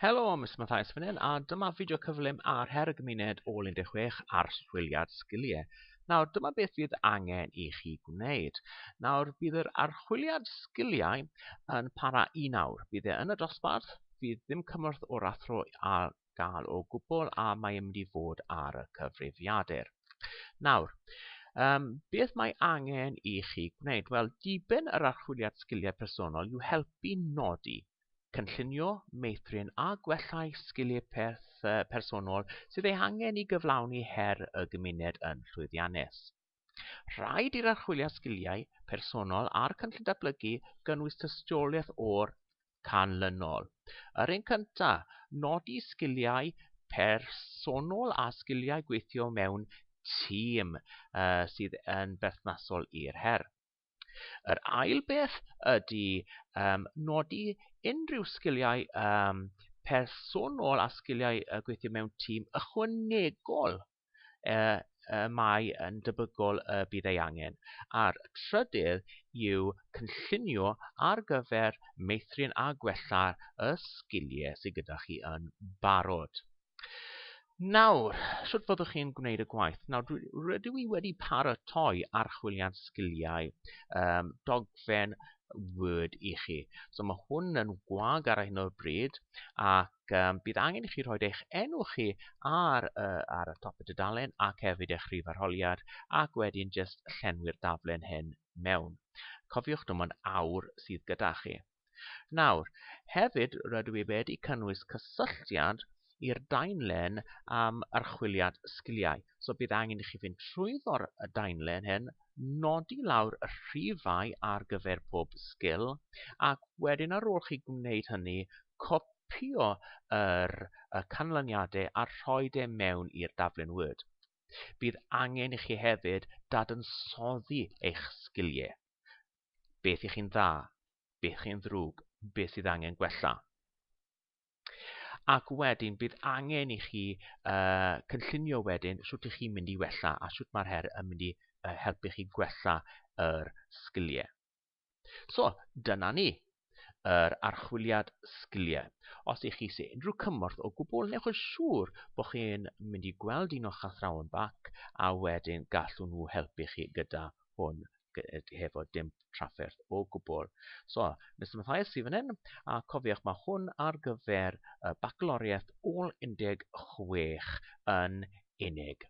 Helo, Mr Mathias fan hyn, a dyma fideo cyflym ar her y gymuned o 16 ar chwiliad sgiliau. Nawr, dyma beth fydd angen i chi gwneud. Nawr, bydd yr archwiliad sgiliau yn para un awr. Bydd e yn y dosbarth, fydd ddim cymorth o'r athro ar gael o gwbl a mae mynd i fod ar y cyfrifiadur. Nawr, um, beth mae angen i chi gwneud? Wel, diben yr archwiliad sgiliau personol yw helpu nodi cynllunio, meithrin a gwellai sgiliau peth, personol sydd ei hangen i gyflawni her y gymuned yn llwyddiannus. Rhaid i'r archwiliad sgiliau personol a'r cynllun datblygu gynnwys tystiolaeth o'r canlynol. Yr un cynta, nodi sgiliau personol a sgiliau gweithio mewn tîm uh, sydd yn berthnasol i'r her. Yr ail beth ydy um, nodi unrhyw sgiliau um, personol a sgiliau uh, gweithio mewn tîm ychwanegol uh, uh, mae yn debygol y uh, bydd ei angen. A'r trydydd yw cynllunio ar gyfer meithrin a gwella y sgiliau sydd gyda chi yn barod. Nawr, sut fyddwch chi'n gwneud y gwaith? Nawr, dwi, rydw i wedi paratoi archwiliad sgiliau um, dogfen Word i chi. So mae hwn yn gwag ar hyn o'r bryd ac um, bydd angen i chi rhoi eich enw chi ar, uh, ar y top y dudalen ac hefyd eich rhif arholiad ac wedyn jyst llenwi'r daflen hyn mewn. Cofiwch dim ond awr sydd gyda chi. Nawr, hefyd rydw i wedi cynnwys cysylltiad i'r daenlen am archwiliad sgiliau. So bydd angen i chi fynd trwyddo'r daenlen hyn, nodi lawr y rhifau ar gyfer pob sgil, ac wedyn ar ôl chi gwneud hynny, copïo yr y canlyniadau a rhoi e mewn i'r daflen Word. Bydd angen i chi hefyd dadansoddi eich sgiliau. beth i chi'n dda, beth chi'n ddrwg, beth sydd angen gwella. Ac wedyn bydd angen i chi uh, cynllunio wedyn sut ych chi'n mynd i wella a sut mae'r her yn mynd i uh, helpu chi gwella yr sgiliau. So, dyna ni. yr archwiliad sgiliau. Os ych chi eisiau unrhyw cymorth o gwbl, newch yn siŵr bod chi'n mynd i gweld un o'ch athrawon bac a wedyn gallwn nhw helpu chi gyda hwn hefo dim trafferth o gwbl. So, Mr Mathias sydd fan hyn, a cofiwch mae hwn ar gyfer y bacaloriaeth ôl 16 yn unig.